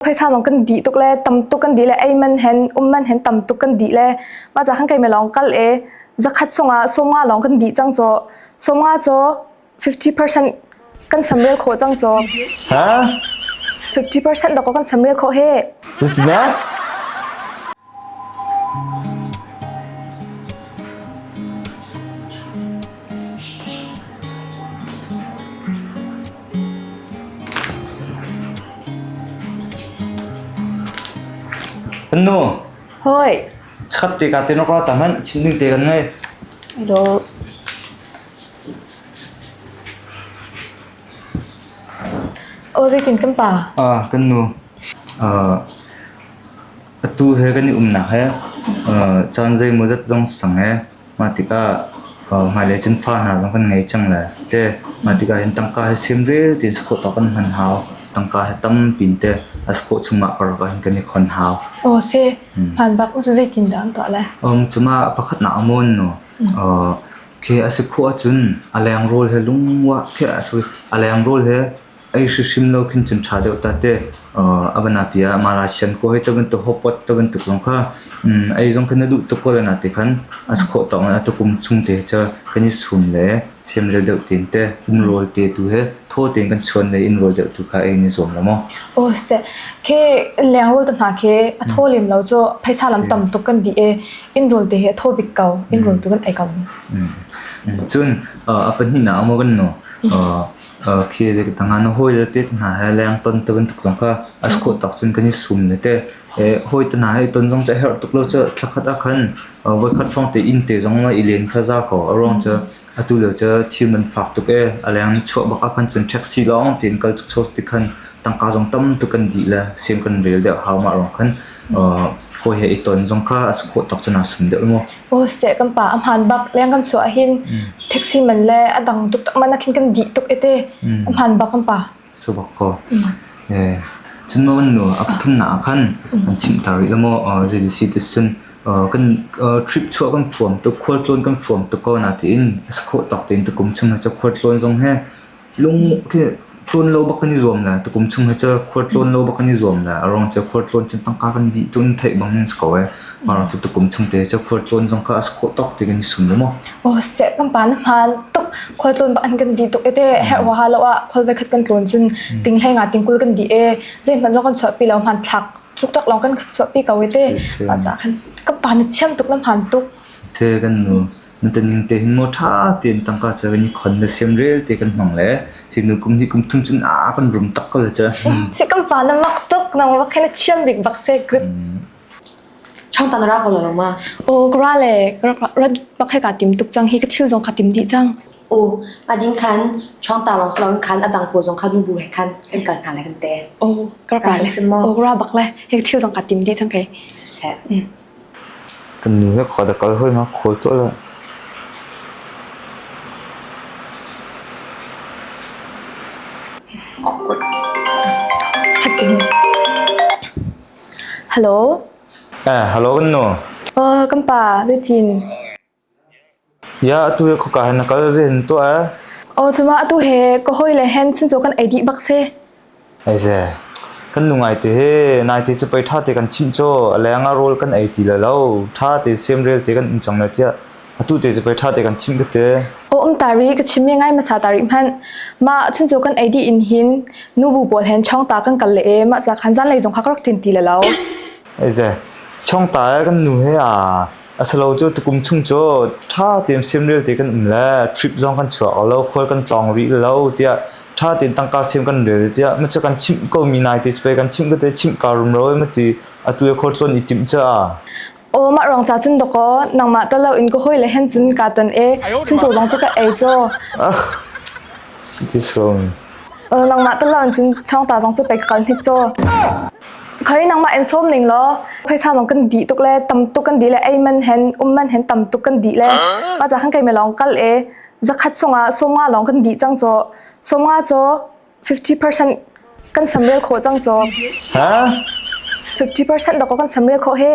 phaisa lawng kan dih tuk le tam tuk kan dih le ei man hen um man hen tam tuk kan dih le ma za khan kai me lawng kal e zakhat sung ah soma lawng kan dih cang cho soma cho 50% kan samrel kho cang cho ha 50% da ko kan samrel kho he 是怎么样？ Kan nu, Hoi, chat te ka te no ka ta man chim ding te kan ngei. do, o zetin kan pa, Ah, kan nu. Ah, Atu he kan i umnak he caan zeimawzat zong sang ee mah tikah hmailei cun fa hna zong kan ngei cang le te mah tikah hin tangka hi sem re tein si khawh tawk kan hman hau tangka hi tampi te a si khawh chungah karlak ah hin kan i khon hau. Aw se hman bak cu zeitindah an tuah lai? Cumah pakhatnak a mawn no khi a si khawh ahcun a leng rawl he lungwah khi a leng rawl he ei hrim lo khin cun tha deuh ta te a van api ah mara sian ko hei bantuk hopot to bantuk zong kha ei zong khin na duh tuk ko le na te khan a khawh tawng a tukum chung te cha kan i sum le sem le deuh tin te um rol te tu he tho tin kan chuan le in rol deuh tu kha ei ni zom la mo o se ke leng rol ta na ke a tho lim lo cho phaisa lam tam tuk kan di e in rol te he tho bik kau in rol tu kan ei kau cun a pani na amo kan no khi zeikhatdah hnga na hawile tete hna he leng ton te bantuk zong kha a si khawh tak cun kan i sum ne teh. Hawi te hna he i ton zong cu a herh tuk lo cu thla khat ah khan voikhat hrawng te inn te zong ma i len kha za ko a ruang cu atu lio cu thim an fak tuk ee a leng ni chuah bak ah khan cun taxi lawng tiin kal tuk so ti khan tangka zong tam tuk kan dih le siam kan rel deuh hau mah ruang khan. Hawi he i ton zong kha a si khawh tuk cun aa sum deuh maw? Aw seh kan pa a hmaan bak leng kan chuah ahhin taxi man le a dang tuk tak man ahkhin kan dih tuk ete a hmaan bak kan pa. Subak ko. Cun maw nu a pathum na ahkhan an chim ta rih maw JDC te cun kan trip chuah kan fuam tuk khual tlawn kan fuam tuk ko na tiin a si khawh tuk tiin tukum chung hi khual tlawn zong he Lung khi tlawn lo bak kan i zuam la, tukum chung hi cu khua tlawn lo bak kan i zuam la. A ruang cu khua tlawn cun tangka kan dih ṭun theih bang in si ko ai. A ruang cu tukum chung te cu khua tlawn zong kha a si khawh tawk ti kan i sum lo maw? Oh seh pampa na hmaan tuk khua tlawn bak an kan dih tuk ete herh waha lo ah khual voikhat kan tlawn cun ting hleng ah tingkul kan dih e zeihmanh zong kan chuahpi lo hmanthlak chukchak lawng kan chuahpi ko ete mah caah khan ka pa na chiam tuk na hmaan tuk. Te kan nu Na ṭaning te hin maw ṭha tein tangka cu kan i khon le siam rel te kan hmang le hi nu kum hi kum thum cun a kan rum tak ko cu. Si kan pa na mak tuk na ma khe na thiam bik bak se good. Chong tan ra ko lo ma. O kra le ra bak he ka tim tuk cang hi ka thil zong ka tim di cang. O ading khan chong ta long slong khan adang ko zong kha dum bu he khan kan kal hna le kan te. O kra kra le o kra bak le he thil zong ka tim di cang ke. Se se. Kan nu he khua da kal hoi ma khawl tuah lo. Hello. Hello kan nu. Kan pa, zeitin? Atu hi khawka hin na kal zen tuah ee. Aw cungah atu he ka hawile hen chuncaw kan ei dih bak si. Ei ze. Kan nu ngai te he nai te cu pei ṭha te kan chimh caw. A leng ah rawl kan ei ti lo lo. Ṭha te sem rel te kan um cang ne tiah. Atu te cu pei ṭha te kan chimh ka te. Aw um tari ka chim mi ngai masa tari hmanh. Mah chuncaw kan ei dih in hin nu bu pawl hen chong ta kan kal le ee mah ca khan zanlei zong kha ka rak ṭin ti lo lo. Ei ze. Chong ta ee kan nu he aa. A si lo cu tukum chung cu ṭha tein semrel te kan um le trip zong kan chuah ko lo, khual kan tlawng rih lo tiah ṭha tein tangka sem kan rel tiah macu kan chimh komi naite cu pei kan chimh ko te chimh kaa rum lo ma ti atu i khor tluan i timh caah. Aw mah rong ca cun doko nangmah ta lo in ka hoi le hen cun ka ton e chuncho zong cu ka ei cho. Ah, si ti so. Langmah tal lang cun changta zong cu pek ka kal hnik caw. Khoi nangmah en som ning law phaisa zong kan di tuk le tam tuk kan di le ei man hen um man hen tam tuk kan di le ma za khang kai me long kal e zakhat sunga songa long kan di chang caw songa caw 50% kan samrel kho chang caw 50% da ko kan samrel kho he